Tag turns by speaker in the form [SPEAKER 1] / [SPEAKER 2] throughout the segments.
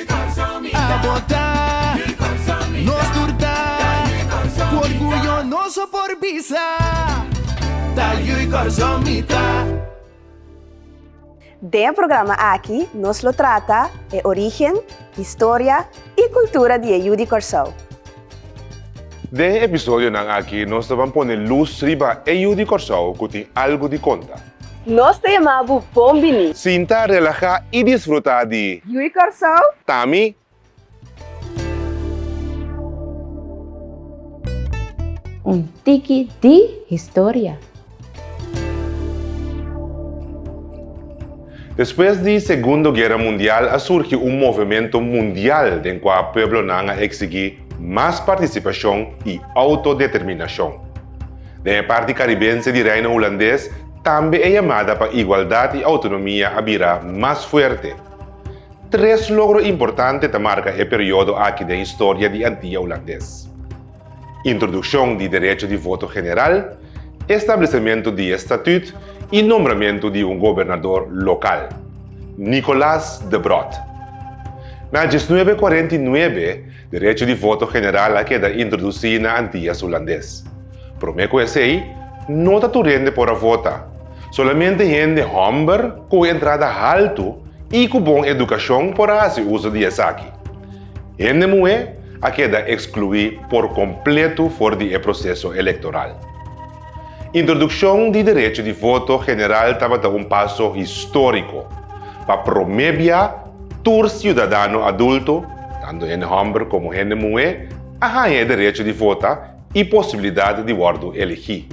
[SPEAKER 1] A botá, nos tur ta Ku orguyo nos so por bisa Ta yu i kòrson mi ta. Den e programa aki nos lo trata e origen, historia i kultura di e yu di Kòrsou. Den e episodionan aki nos ta ban pone lus riba e yu di Kòrsou ku tin algu di konta. Nos ta yama bu bon bini. Sinta, relahá i disfrutá di. Ui Kòrsou! Ta mi. Un tiki di historia. Despues di Segundo Guera Mundial a surgi un movementu mundial den kua pueblonan a eksigí mas partisipashon i outodeterminashon. Den e parti karibense di Reino Hulandes tambe e yamada pa igualdat i outonomia a bira mas fuerte. Tres logro importante ta marka e periodo aki den historia di Antia Hulandes, Introdukshon di derecho di voto general, establecementu di e statut y nombramentu di un gobernador local, Nicolas de Brodt. Na diesnuebe kuarenta i nuebe, derecho di voto general a keda introduci na Antillas Hulandes. Prome ku esey, no ta tur hende por a vota, solamente hende homber ku un entrada haltu y ku bon educacion por a haci uso di esaki. Hende muhé a keda ekskluí por kompletu for di e proseso elektoral. Introdukshon di derecho di voto general tabata un paso históriko pa promé bia tur siudadano adulto, tantu hende hòmber komo hende muhé, a haña e derecho di vota i posibilidat di wòrdu elegí.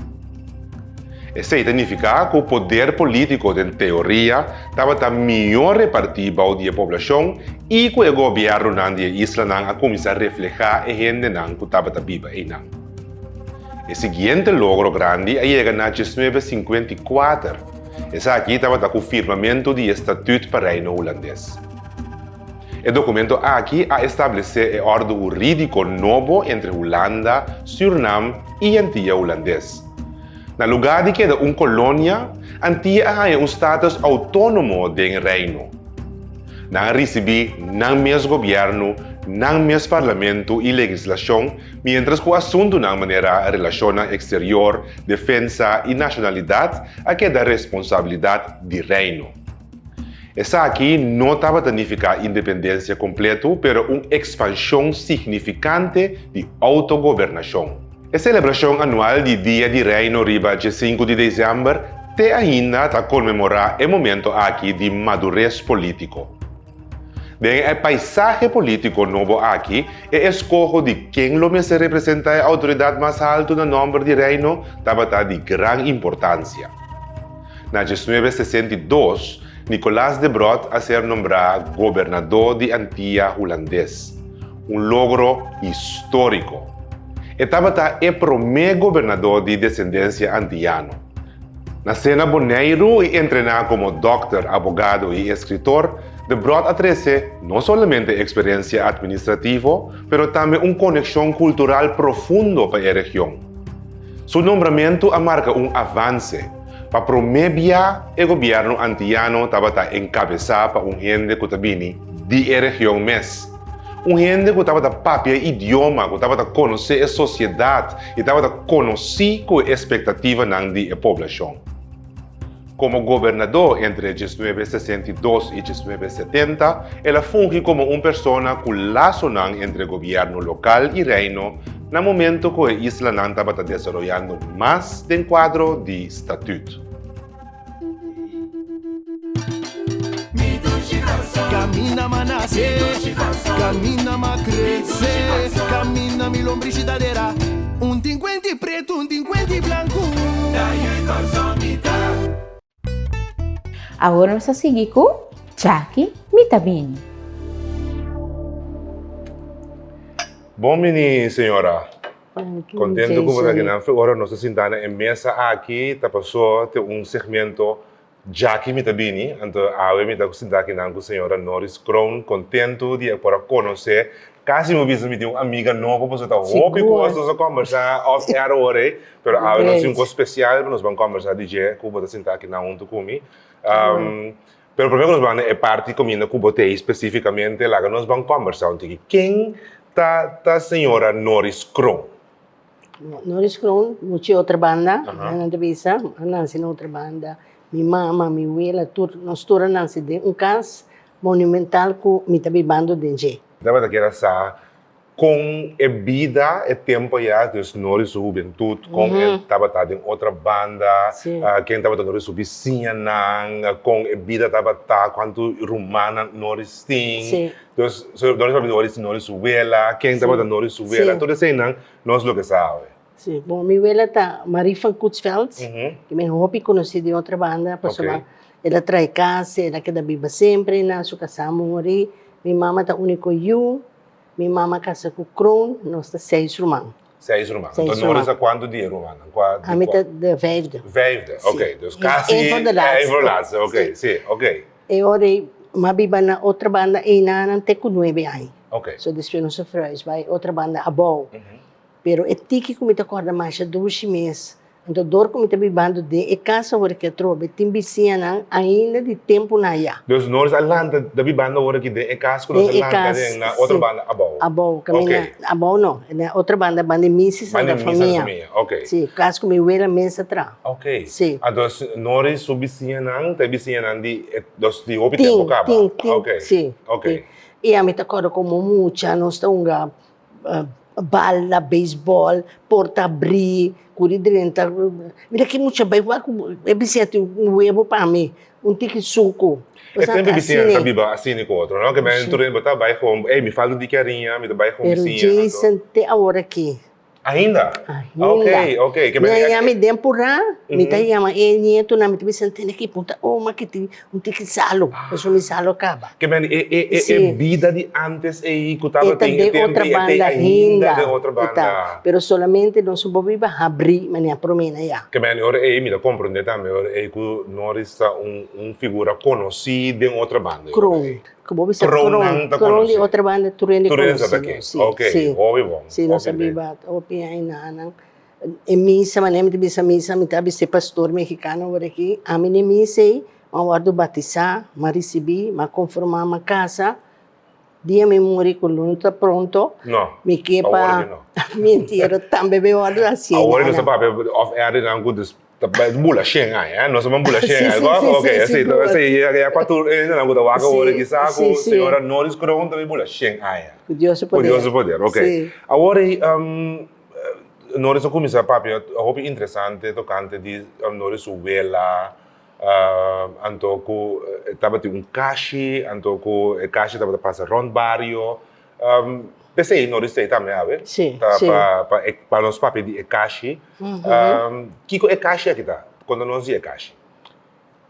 [SPEAKER 1] Esei ta nifiká ku poder polítiko den teoria tabata mihó repartí bou di e poblashon i ku e gobièrnunan di e islanan a kuminsá reflehá e hendenan ku tabata biba einan. E siguiente logro grandi a yega na diesnuebe sinkuenta i kuater, esaki tabata ku firmamentu di e Statüt pa Reino Hulandes. E dokumento aki a establesé e òrdu hurídiko nobo entre Hulanda, Sürnam i Antia Hulandes. Na lugá di keda un kolonia, Antia a haña un státus outónomo den Reino. Nan a risibí nan mes gobièrnu, nan mes parlamentu i legislashon, miéntras ku asuntunan manera relashonnan eksterior, defensa i nashonalidat a keda responsabilidat di Reino. Esaki no tabata nifiká independensia kompletu, pero un ekspanshon signifikante di outogobernashon. E selebrashon anual di Dia di Reino riba dje sinku di desèmber te ainda ta konmemorá e momentu aki di madures polítiko. Den e paisahe polítiko nobo aki, e eskoho di ken lo mester representá e outoridat mas haltu na nòmber di Reino tabata di gran importansia. Na dieznuebe sesenta i dos, Nicolaas de Brood a ser nombrá gobernadó di Antia Hulandes, un logro histórico. E tabata e promé gobernadó di desendensia antiano. Nacé na Boneiru i entrená komo dòkter, abogado i eskritor, de Brood a trese no solamente eksperensia atministrativo, pero tambe un konekshon kultural profundo pa e region. Su nombramentu a marka un avanse, pa promé bia e gobièrnu antiyano tabata enkabesá pa un hende ku ta bini di e region mes, un hende ku tabata papia e idioma, ku tabata konosé e sosiedat i tabata konosí ku e espektativanan di e poblashon. Komo gobernadó entre e diesnuebe sesenta i dos i diesnuebe setenta, el a fungi komo un persona ku lasonan entre gobièrnu lokal i reino na momento ku e islanan tabata desaroyando mas den kuadro di statüt. Awor nos a sigui cu Chaki mi ta bini. Bon bini señora. Contento cu bo ta aki nan fe ora nos ta sinta na e mesa aki ta paso te un segmento. Djaki mi ta bini, anto awe mi ta ku sinta akinan ku señora Norris Kroon. Kontentu di e por a konos'é. Kasi mi bisa mi tin un amiga nobo pasobra ta hopi Sigur. kos nos a kòmbersá off air awor-e, pero awe nos tin un kos spesial ku nos ban kòmbersá di dje ku bo ta sinta akinan huntu ku mi. Pero promé ku nos ban na e parti kominda ku bo t'ei spesífikamente, laga nos ban kòmbersá un tiki. Ken ta ta señora Norris Kroon? Norris Kroon, mucha e otro banda, nan ta bisa, a nansi na otro banda. Mi mama, mi wela, tur, nos tur a nansi den un cas monumental cu mi ta bibando den dje. Nan mester keda sa con e bida, e tempo ya, dus Norris su hubentud, con e tabata den otro banda, ken tabata Norris su bisiñanan, con e bida tabata, cuantu rumannan Norris tin. Dus, so Doris papia ta ori si Noris su wela, ken Sí. tabata Noris su wela, Sí. tur eseinan nos lo ke sabe. Sí, bon, mi wela ta Marie van Koetsveld, Ujú. y mi hopi conoci di otra banda, pasobra Ok. el a trae cas, el a keda biba semper na su casa a muri. Mi mama ta unico yu, mi mama a casa cu Kroon, nos ta seis ruman. Seis ruman. Seis Anto Norris ruman. a kuantu di e rumannan? Kua di Ami kua? ta de vijfde. Vijfde, Si. oké. Dus I kasi een van de laatste. een van de laatste, oké. Si. Si, oké. E ora ei mi a biba na otro banda eina nan te ku nuebe aña. Oké. So despues nos a verhuis bai otro banda abou. Pero e tiki ku mi ta kòrda masha dushi mes. Anto dor ku mi ta biba anto den e kas awor aki atrobe, tin bisiñanan ainda di tempunan ayá. Dus nos a lanta ta biba anto awor aki den e kas ku nos a lanta den na otro banda abou. Abou, kaminda abou no, na otro banda banda e misa Santa Famia. Si, kas ku mi wera a mes atra. Si. Antos Nori su bisiñanan ta e bisiñanan di e dos di hopi tempu kaba. Tin, tin, tin, si, tin. I ami ta akorda komo mucha nos ta hunga. bala, beisbòl, porta abrí, kuri drenta mira ki mucha bai wak e bisièt un webo pa mi un tiki suku e tempu e bisinan ta biba asin e ku otro no ke men tur bo ta bai home ey mi falta diki ariña mi ta bai home pero Jason te awor aki ainda? ok mi a yama den purá mi ta yama e nietunan mi ta bisa tene ki punta oma kiti Mi tin ki salo, pasobra mi salo a kaba. Ke mene, e, e, e, e bida di antes ei ku tabata den e tempu ei, e ta ainda den otro banda. E ta, pero solamente nos bo biba a habrí manera por mena ya. Ke mene, ora ei mi ta komprendé tambe ora ei ku Norris ta un, un figura konosí den otro banda. Kron, ku bo bisa kron. Kronnan ta konosí. Kron di otro banda tur hende konosí. Tur hende sa ta ken. Oke, hopi bon, hopi bon. Si nos a biba hopi añanan. E misa, manera mi ta bisa misa, mi ta bis'é pastor mexicano awor aki, ami n'e misa ei, ma wòrdu batisá, m'a risibí, m'a konformá, m'a kasá, dia mi muri ku Luna ta pronto, mi ke pa mi entiero tambe mi wòrdu a sien aña. Awor nos a papia òf e arinan ku dus, ta bula shen aña, nos a bula shen aña ago, ok, esei ta, esei ya kuater hendenan ku ta wak awor aki sa ku señora Norris Kroon ta bin bula shen aña, ku Dios su poder, ku Dios su poder, ok, awor ei. Norris a kuminsá papia hopi interesante tokante di Norris su wela, anto ku e tabatin un kashi, anto ku e kashi tabata pasa rònt bario, p'esei Norris t'ei tambe awe, ta pa e pa nos papia di e kashi, kiko e kashi aki ta? Konta nos di e kashi.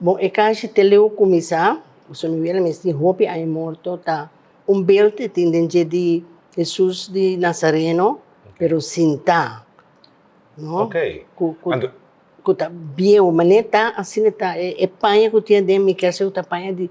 [SPEAKER 1] Bon e kanshi te leu kuminsá, José Miguel a mes tin hopi aña morto, ta un beld e tin den dje di Hesus di Nazareno pero sintá, no? Okay. Ku ku Anto- ku ta bieu, manera ta asina ta e paña ku tin aden mi kèrsei ku ta paña di.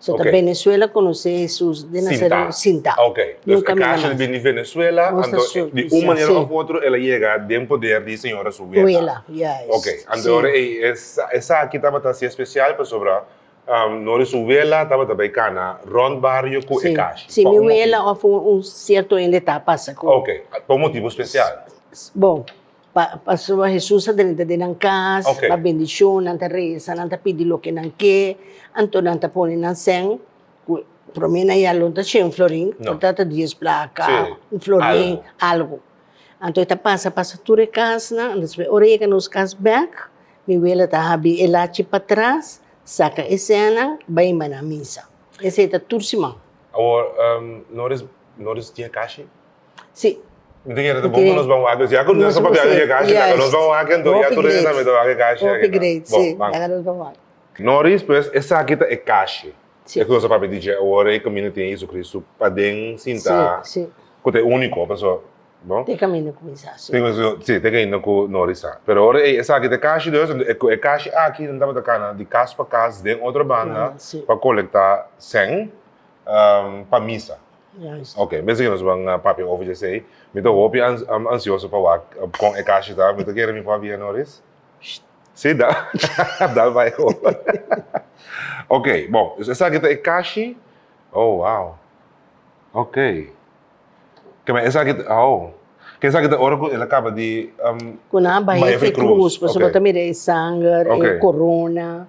[SPEAKER 1] So ta Benezuela konosé Hesus den Nasarèt sintá. Sintá. Ok. Nunka mira mas. E kasha ta bini di Benezuela, anto di un manera òf otro el a yega den poder di Señor Hesus Wela. Wela, ya es. Ok. Anto ora ei, esaki tabata así espesial pasobra Nor Hesus Wela tabata bai kana rònt bario ku e kasha. Si, si mi wela òf un sierto hende ta pasa ku. Ok. Pa un motibu spesial? Bon. Pasobra Hesus a drenta den nan kas, a da bendishon, nan ta resa, nan ta pidi loke nan ke, anto nan ta pone nan sèn. Promé nan yaló no ta shen un florin, por ta ta dies plaka, un florin, algu. Anto e ta pasa, pasa tur e kasnan, despues ora e yega nos kas bèk, mi wele ta habri e lachi patras, saka e sènnan, bai inba nan misa. Esei ta tur siman. Awor, no res, no res tin e kashi? Sí. Mi tin yete ta bon pa nos ban wak, ya ku nos a papia dje kashi laga nos ban wak, enton ya tur dje tambe ta wak e kashi aki. Hopi great, sí, laga nos ban wak. Noris, pues esaki ta e kashi, e ku nos a papia dje awor, e kaminda tin JesuCristu paden sinta, ku ta e úniko, paso, bo? Te kaminda ku mi sa, sí. Sí, te kaminda ku Noris sa. Pero awor ey, esaki ta e kashi dus, enton e ku e kashi aki nan tabata kana di kas pa kas den otro banda pa kolekta sèn pa misa. Juist. Ok, mester que nos van papia over esey. Mi ta hopi ansioso pa wak con e cashi ta. Mi ta kere mi por habia no ris. Si, da, dal bai ho. Ok, bon, dus esaki ta e cashi. Oh, wow. Ok. Keme esaki, oh. Ke esaki ta ora cu el a caba di um, Cu nan bai bai efe efe cruz. cruz, pasobra ta mira e sanger, e corona.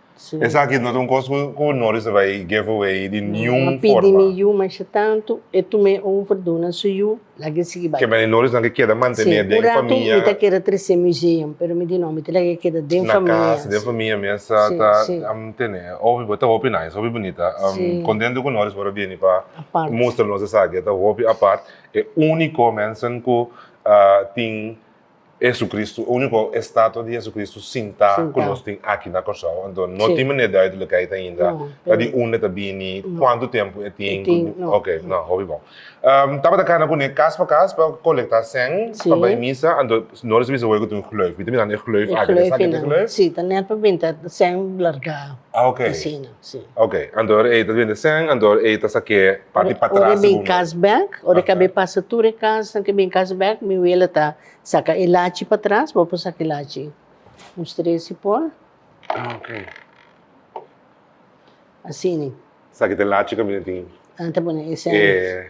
[SPEAKER 1] Sí. Esaki no ta un kos ku Norris a bai give away di No, niun no pidi forma. mi yu masha tanto, e tuma e over duna su yu, laga e sigui bai. Kembe di Norrisnan ke keda Sí, mantené un den ratu mi ta famia, kere tresé museum, pero mi di no, mi ta laga e keda den na famia. kas, den sí. famia mesa Sí, ta sí. ta mantené. Hopi bo, ta hopi nice, hopi bunita. Um, Sí. Kontento ku Norris por a bini pa Apart. mustra nos esaki, e ta hopi apart. E úniko mensan ku ah, tin Jesucristo, unico estatua di Jesucristo sinta Sinta. cu nos tin aki na Corsou. Anto no Sí. tin manera di duidelijkheid ainda. No, Ta di pero- un e ta bini, No. cuanto tempo e tin. E tin, no. Ok, no, hopi bon. Ehm, tabata cana cune cas pa cas pa colecta cen Sí. pa bay misa. Anto no recibi esaki cu tin un gleuf. Mi ta mirando e gleuf aki. Esaki ta e gleuf? Sí, ta net pa binti cen largá. Ah, ok. Asina. Sí. Ok, anto ora ei ta bende sèn, anto ora ei ta sa ke parti patras Ora e bin bumba. kas bèk, ora e Aha. kab'é pasa tur e kasnan ke bin kas bèk, mi wele ta saka e lachi patras, bo por saka e lachi un stresi por, Ah, ok. asini. Sa ki ta e lachi kaminda tin Nan ta pone e sèn. e.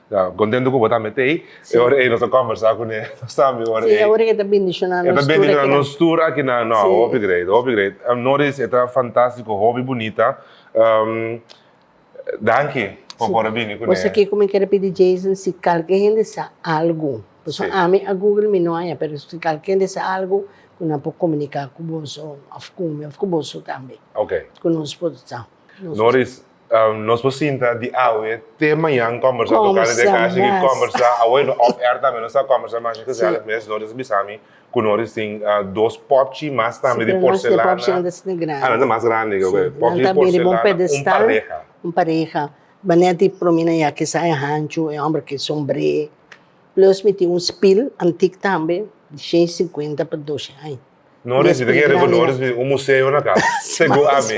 [SPEAKER 1] Ya, contento cu bo ta met ey. Sí. E ora ey nos a conversa cu ne, nos ta mi ora Sí, ey. ahora e ta bendiciona E ta nos tur bendiciona aquí na. nos tur aki na, no, Sí. hopi great, hopi great. Um, Norris, e ta fantastico, hopi bunita. Um, danki por Sí. por a bini cu Bo ne. sa kico mi quiere pidi Jason? Si calke hende sa algo, pasobra Sí. ami a google mi no haya, pero si calke hende sa algo cu nan por comunica cu boso of cu mi of cu boso tambe, Ok. cu nos por sa. Noris, um, nos por sinta di awe te mañan conversa toca de casi que conversa awe no off air también nos a conversa más que sea mes Noris bisami con Noris sin uh, dos popchi más también de porcelana popchi anda sin grande anda más grande que sí. popchi de porcelana un pedestal un pareja un pareja mané ti promina ya que sai hanchu e hombre que sombre plus mi ti un spil antic tambe de 150 pa 200 aña No resita que reveladores de un museo na casa. Según a mí.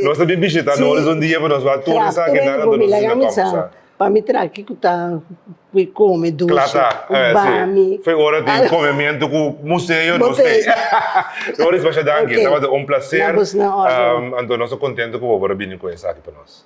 [SPEAKER 1] Nos a visitar no es un día, pero nos va a todos a que nada nos a casa. Pa mi traki ku ta we come dulce. Klata, bami. Fe ora tin comimiento ku museo no stay. No res basha danki, tabata un placer. Anto nos a contento ku bo bora bini ku esaki pa nos.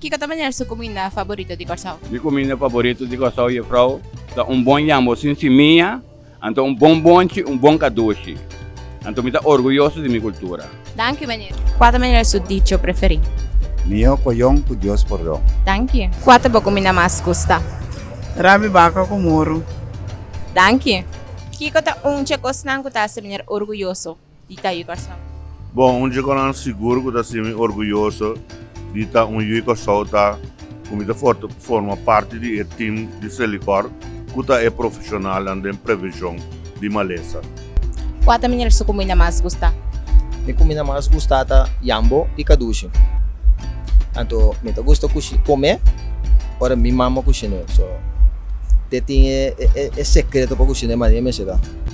[SPEAKER 1] Kiko ta manera su cuminda favorito di Corsou? Mi cuminda favorito di Corsou, Juffrouw, ta un bon yambo sin simiya, anto un bon bonchi, un bon cadushi. Anto mi ta orguyoso di mi cultura. Danki, Meneer. Cua ta manera su dicho preferi? Mijo coyon cu Dios pordon. Danki. Cua ta bo cuminda mas gusta? Rabi baca cu moro. Danki. Kiko ta un dje cosnan cu ta haci Meneer orguyoso? di ta yu Kòrsou. Bon, un chiconan sigur cu ta simi orguyoso di ta un yu Kòrsou ta cu mi ta forma parti di e team di Selicor cu ta e profesionalnan den prevencion di malesa. Cua ta mineral su cu mi na mas gusta? Mi cu mi na mas gusta ta yambo y cadushi. Anto mi ta gusta cushi, come ora mi mama cushina, so te tin e secreto pa cushina e mania mi a hacida.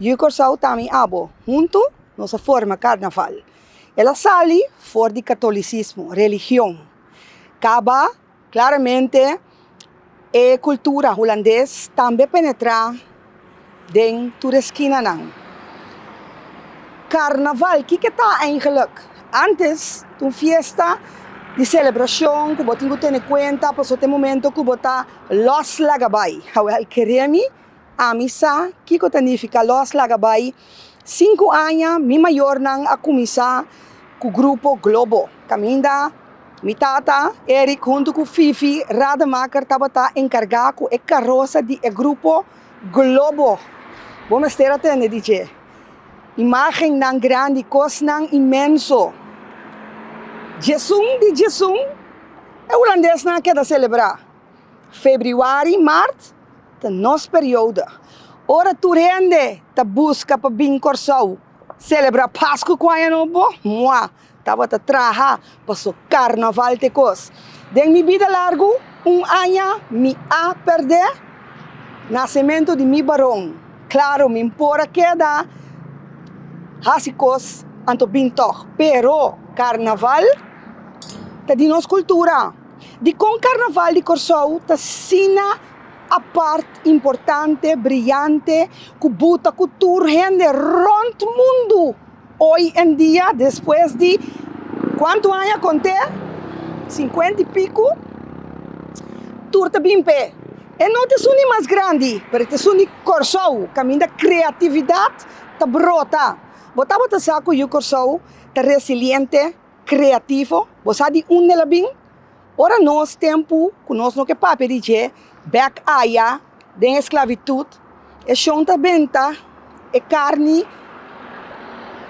[SPEAKER 1] Yu Kòrsou ta mi abo, huntu nos a forma karnaval. El a sali for di katolisismo, religion. Kaba klaramente e kultura hulandes tambe penetrá den tur e skinanan. Karnaval, kiko e ta eingelik? Ántes ta un fiesta di selebrashon ku bo tin ku tene kuenta pasobra ta e momento ku bo ta lòs laga bai, hawèl keré mi. Ami sa kiko ta nifica los laga bai. Sinku aña mi mayornan a cuminsa cu grupo Globo. Caminda mi tata Eric huntu cu Fifi Rademaker tabata encarga cu e carosa di e grupo Globo. Bo mester a tende di dje imagennan grandi, cosnan inmenso. Djesun di djesun e Hulandesnan a keda celebra. Febrüari i mart ta nos periodo ora tur hende ta buska pa bin Kòrsou selebrá Pasku ku Aña Nobo. Mua, tabata traha paso karnaval t'e kos. Den mi bida largu un aña mi a pèrdè nasementu di mi baron. Klaru mi por a keda hasi kos anto bin tòg, pero karnaval ta di nos kultura. Dikon Karnaval di Kòrsou ta asina apart, importante, briyante ku buta ku tur hende rònt mundu oy en dia despues di kuantu aña kont'é? Sinkuenta i piku? Tur ta bin p'e. E no ta esun di mas grandi, pero e ta esun di Kòrsou, kaminda kreatividat ta brota. Bo tabata sa ku yu Kòrsou ta resiliente? kreativo, bo sa di unda el a bin? Ora nos tempu ku nos no ke papia di dje bèk aya den e sklavitut, e shon ta benta e karni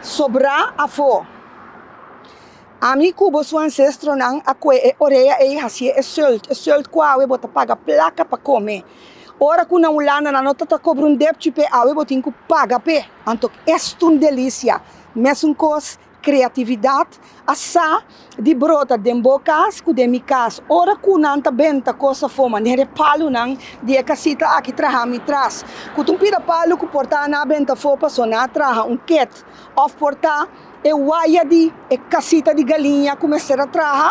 [SPEAKER 1] sobrá afó. Ami ku bo su ansestronan a kue e orea ei hasié e sùlt, e sùlt ku awe bo ta paga plaka pa kome. Ora ku na Hulanda nan no ta ta kobra un depchi p'e, awe bo tin ku paga p'e. Anto es ta un delisia. Mesun kos Kreatividat a sa di brota den bo kas ku den mi kas. Ora ku nan ta benta kos a foma den e palunan di e kasita aki traha mi tras ku ta un pida palu ku por ta na benta afó paso na traha un ket òf por ta e waya di e kasita di galiña ku mester a traha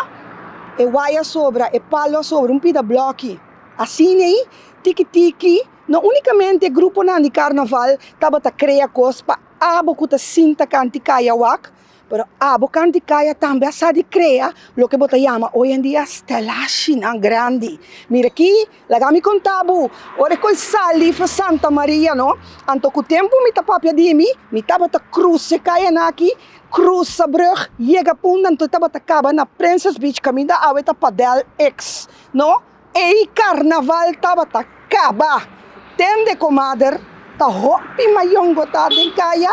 [SPEAKER 1] e waya a sobra e palu a sobra un pida blòki asina ei tiki tiki no unikamente gruponan di karnaval tabata krea kos pa. Abo cu ta sinta kanti kaya wak, pero abo kanti kaya tambe a sa di krea loke bo ta yama oy en dia stelashinan grandi. Mira aki, laga mi conta bo, ora cu ey sali for Santa Maria no, anto cu tempo mi ta papia di mi, mi tabata cruza e kayanan aki, cruza brug, yega punta, anto tabata caba na Princess Beach, caminda awe ta Padel X no. Ei karnaval tabata kaba. Ten de komader ta hopi mayongo ta den kaya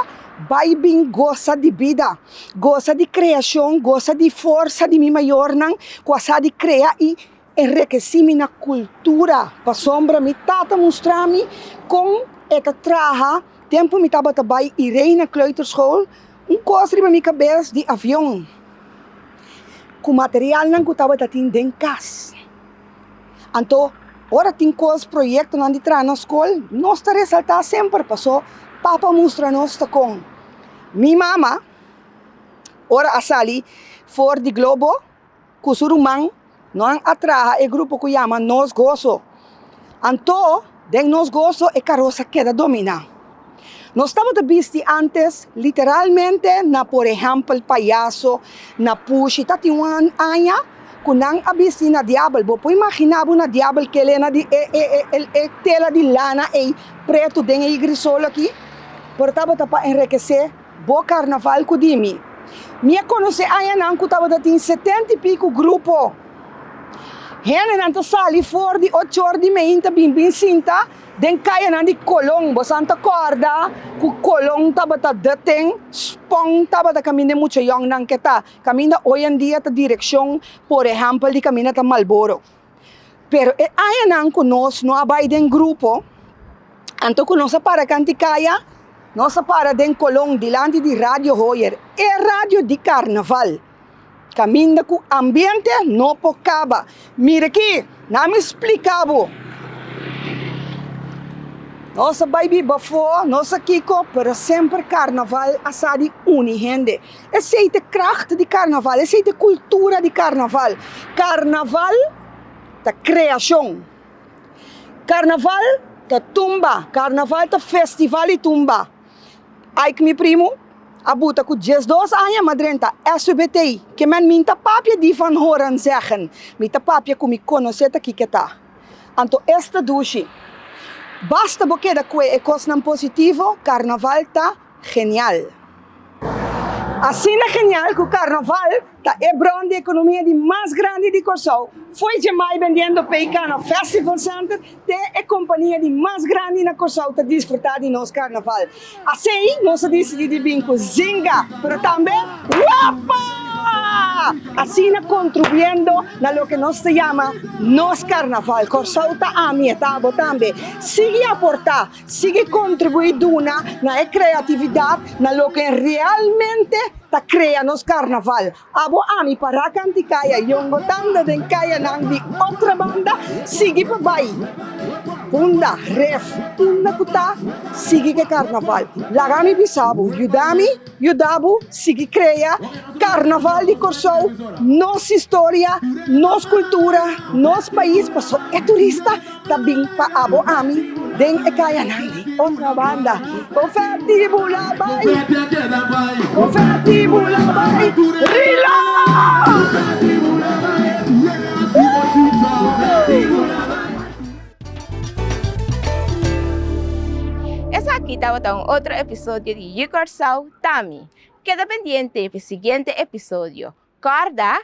[SPEAKER 1] bai bin gosa di bida, gosa di kreashon, gosa di forsa di mi mayornan ku a sa di krea i enrekesí mi na kultura. Pasobra mi tata mustra mi kon e ta traha tempu mi tabata bai Irena Kleuterschool Un kos riba mi kabes di avion ku materialnan ku tabata tin den kas. Anto ora tin kos proyektonan di traha na skol nos ta resaltá semper pasó papa mustra nos ta kon mi mama ora a sali for di globo. ku su ruman no han a traha e grupo ku yama Nos Goso. Anto den Nos Goso e karos a keda dominá. Nos tabata bisti ántes literalmente na por ehèmpel payaso, na pushi. Ta tin wan aña ku nan a bisti na diabel. Bo por imaginá bo na diabel kele na di e tela di lana ei pretu den e igri solo aki? Pero tabata pa enrekesé. Bo karnaval ku di mi. Mi a konosé añanan ku tabata tin setenta i piku grupo. Hendenan ta sali for di ocho or di meinta bin bin sinta den kayanan di Colón. Bosan ta kòrda ku Colón tabata deten spon tabata kaminda e mucha yòngnan ke ta kaminda oyendia ta direkshon, por ehèmpel, di kaminda ta Malboro. pero e añanan ku nos no a bai den grupo, anto ku nos a para kanti kaya, nos a para den Kolon dilanti di Radio Hoyer, e radio di Karnaval, kaminda ku ambiente no por kaba. Mira aki, na mi splika bo, nos a bai biba afó, nos a kiko, pero semper Karnaval a sa di uni hende. Esei ta e kracht di karnaval, esei ta e kultura di karnaval. Karnaval ta kreashon, karnaval ta tumba, karnaval ta festival di tumba. Ike mi primu a buta ku dies dos aña, ma drenta SUBTI, ke men mi ta papia di van horen zeggen, mi ta papia ku mi konosé ta kiko e ta. Anto esta dushi, basta bo keda kue e kosnan positivo, karnaval ta Genial! Asina genial cu Carnaval ta e bron di economia di mas grandi di Corsou, fo'i djemai bendiendo p'e cana Festival Center te e compania di mas grandi na Corsou ta disfruta di nos Carnaval. Asey nos a dicidi di bin cu Zinga, pero tambe Wappa! Asina contribuyendo na loke nos ta yama nos Carnaval. Corsou ta ami e tabo tambe. Sigui aporta! Sigui kontribuí duna na e kreatividat na loke realmente ta krea nos karnaval. Abo ami pará kanti kaya yongo tanda den kayanan di otra banda sigui pa bai unda ref unda ku ta sigui ke karnaval. Laga mi bisa bo, yuda mi. Yudabu sigui krea Karnaval di Kòrsou nos historia, nos kultura, nos pais paso e turista ta bin pa abo ami den e kayanan di Otrabanda. Kofèti bula bai Kofèti bula bai Riloo! Esaki tabata un otro episodio di Yu Kòrsou Ta Mi. Keda pendiente pi siguiente episodio. Kòrda,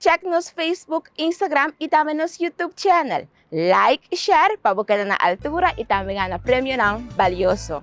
[SPEAKER 1] Check nos Facebook, Instagram i tambe nos YouTube channel. Like i share pa bo keda na altura i tambe gana premionan balioso.